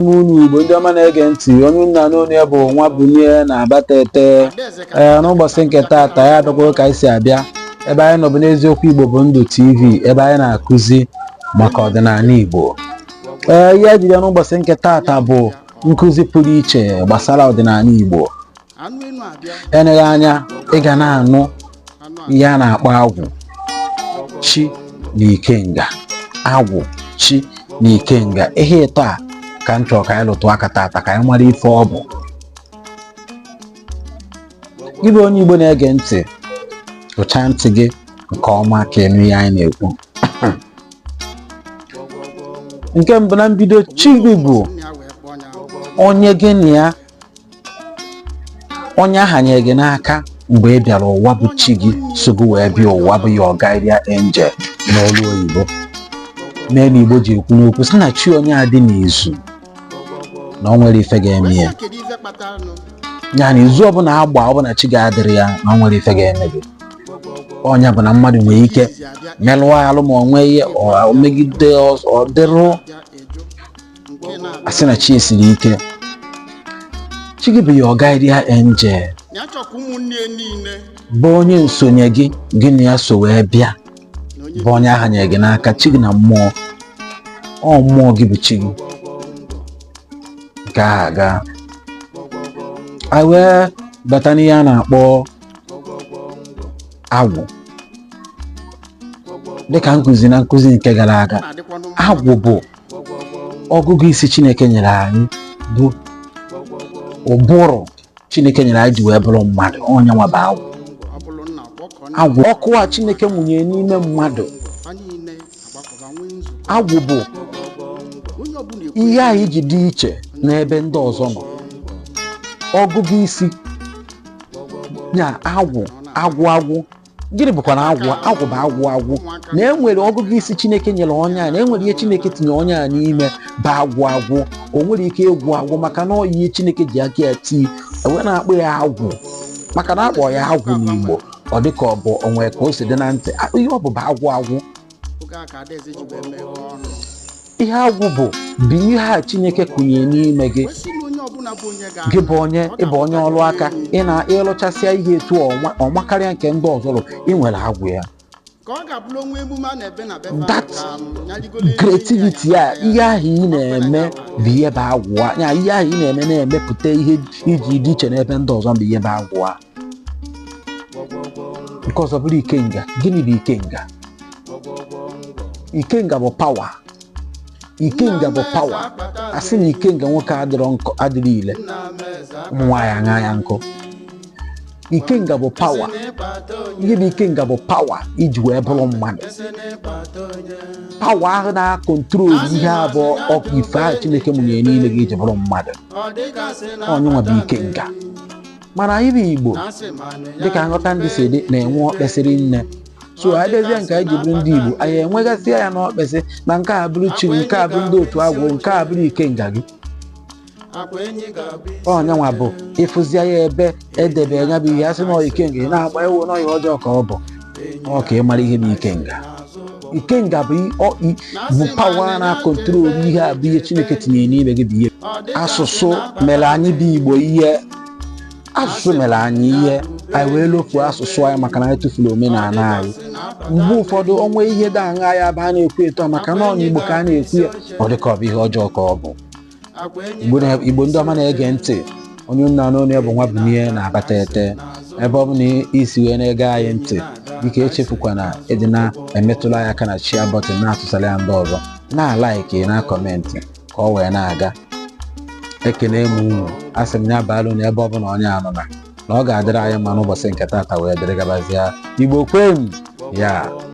ndeeme unu igbo ndị ọma na-ege ntị onye unu na-anụ onu ya bụ nwabunie na abatete ee n'ụbọsị nke taata anyị abịakwara ka anyị si abịa ebe anyị nọ bụ n'eziokwu igbo bụ ndụ tv ebe anyị na-akụzi maka ọdịnanị igbo ee ihe anyị jiri bịa n'ụbọsị nke taata bụ nkụzi pụrụ iche gbasara ọdịnanị igbo eleghị anya ị ga na-anụ ihe a na-akpọ agwụ chi na ikenga agwụ chi na ikenga ihe ịtọ a ka m chọrọ ka anyị lụtụ aka tata ka anyị mara ife ọ bụ gị bụ onye Igbo na-ege ntị ụcha ntị gị nke ọma ka ị nụ ihe anyị na-ekwu nke mbụ na mbido chi gị bụ onye gị na ya onye a hanye gị n'aka mgbe ị bịara ụwa bụ chi gị so gị wee bịa ụwa bụ your guardian angel n'olu oyibo nya melu igbo ji ekwu n'okwu sị na chi onye adị n'izu na o nwerọ ife ga-eme ya ya na izu ọbụna a gba ọ bụ na chi gị adịrọ ya na o nwerọ ife ga-eme gị ọ nya bụ na mmadụ nwere ike melụọ alụ ma ọ nwee ihe megide ọdịrụ a sị na chi gị siri ike chi gị bụ your guardian angel bụ onye nsonye gị gị na ya so wee bịa bụ onye a hanye gị n'aka chi gị na mmụọ ọ mmụọ gị bụ chi gị nke ahụ agaa a wee bata n'ihe a na-akpọ agwụ dịka m kụzi na nkụzi nke gara aga agwụ bụ ọgụgụ isi chineke nyere anyị bụ ụbụrụ chineke nyere anyị ji wee bụrụ mmadụ ọ nya nwa bụ agwụ agwụ ọkụ a chineke nwụnye n'ime mmadụ agwụ bụ ihe anyị ji dị iche n'ebe ndị ọzọ nọ ọgụgụ isi ya agwụ agwụ agwụ gịnị bụkwanụ agwụ agwụ bụ agwụ agwụ na e nwere ọgụgụ isi chineke nyere onye a na e nwere ihe chineke tinye onye a n'ime bụ agwụ agwụ o nwerọ ike ịgwụ agwụ maka na ọ ihe chineke ji aka ya tii e wee na-akpọ ya agwụ maka na a kpọọ ya agwụ n'igbo ọ dịka ọ bụ o nwee ka o si dị na ntị ihe ọ bụ bụ agwụ agwụ oge a ka adaeze ji wee meghe ọnụ ihe agwụ bụ bụ ihe a chineke kụnye n'ime gị wee sị na onye ọbụla bụ onye ga gị bụ onye ịbụ onye ọrụ aka ị na ịlụchasịa ihe etu ọnwa ọnwa karịa nke ndị ọzọ lụrụ ị nwere agwụ ya ka ọ ga-abụrụ onwe emume a na-ebe na befa That creativity a ihe ahụ ị na-eme bụ ihe bụ agwụ a ya ihe ahụ ị na-eme na-emepụta ihe iji dị iche n'ebe ndị ọzọ bụ ihe bụ agwụ a nke ọzọ bụrụ ikenga gịnị bụ ikenga ikenga bụ pawa ikenga bụ pawa a sị na ikenga nwoke adịrọ ile ụmụ nwaanyị awaa ya nkụ ikenga bụ pawa ihe bụ ikenga bụ pawa i ji wee bụrụ mmadụ pawa ahụ na-akọntrol ihe a bụ ọkụ ife ahụ chineke mụnyere n'ime gị i ji bụrụ mmadụ ọ nyanwa bụ ikenga mana anyị bụ igbo dịka nghọta anyị si dị na-enwe ọkpesịrị nne so anyị bịazie nke anyị ji bụrụ ndị igbo anyị enwegasịa ya n'ọkpesị na nke a bụrụ chi gị nke a bụrụ ndị otu agwụ nke a bụrụ ikenga gị ọ nyanwa bụ ị fụzia ya ebe e debe ya bụ ihe a sị na ọ ya ikenga ị na-agba ewu na ọ ihe ọjọọ ka ọ bụ ọ ka ị mara ihe bụ ikenga ikenga bụ i- ọ- i- bụ pawa na-akọntrol ihe a bụ ihe chineke tinyere n'ime gị bụ ihe asụsụ mere anyị bụ igbo ihe asụsụ mere anyị ihe anyị wee lofuo asụsụ anyị maka na anyị tụfuru omenala anyị mgbe ụfọdụ o nwee ihe dị aha ya bụ a na-ekwu etu a maka na ọ n'igbo ka a na-ekwu ya ọ dị ka ọ bụ ihe ọjọọ ka ọ bụ igbo ndị ọma na-ege ntị onye nna n'onu ya bụ nwa bụ n'ihe na-abata ete ebe ọbụna i si wee na-ege anyị ntị biko echefukwana ịdị na-emetụla anyị aka na shia bọtịn na-atụsara ya ndị ọzọ na-alaiki na-akọmentị ka ọ wee na-aga ekene m unu asị m ya baalụ unu ebe ọbụla onye nọ na na ọ ga-adịrị anyị mma n'ụbọchị nke tata wee dịrị gabazie igbo kwenu ya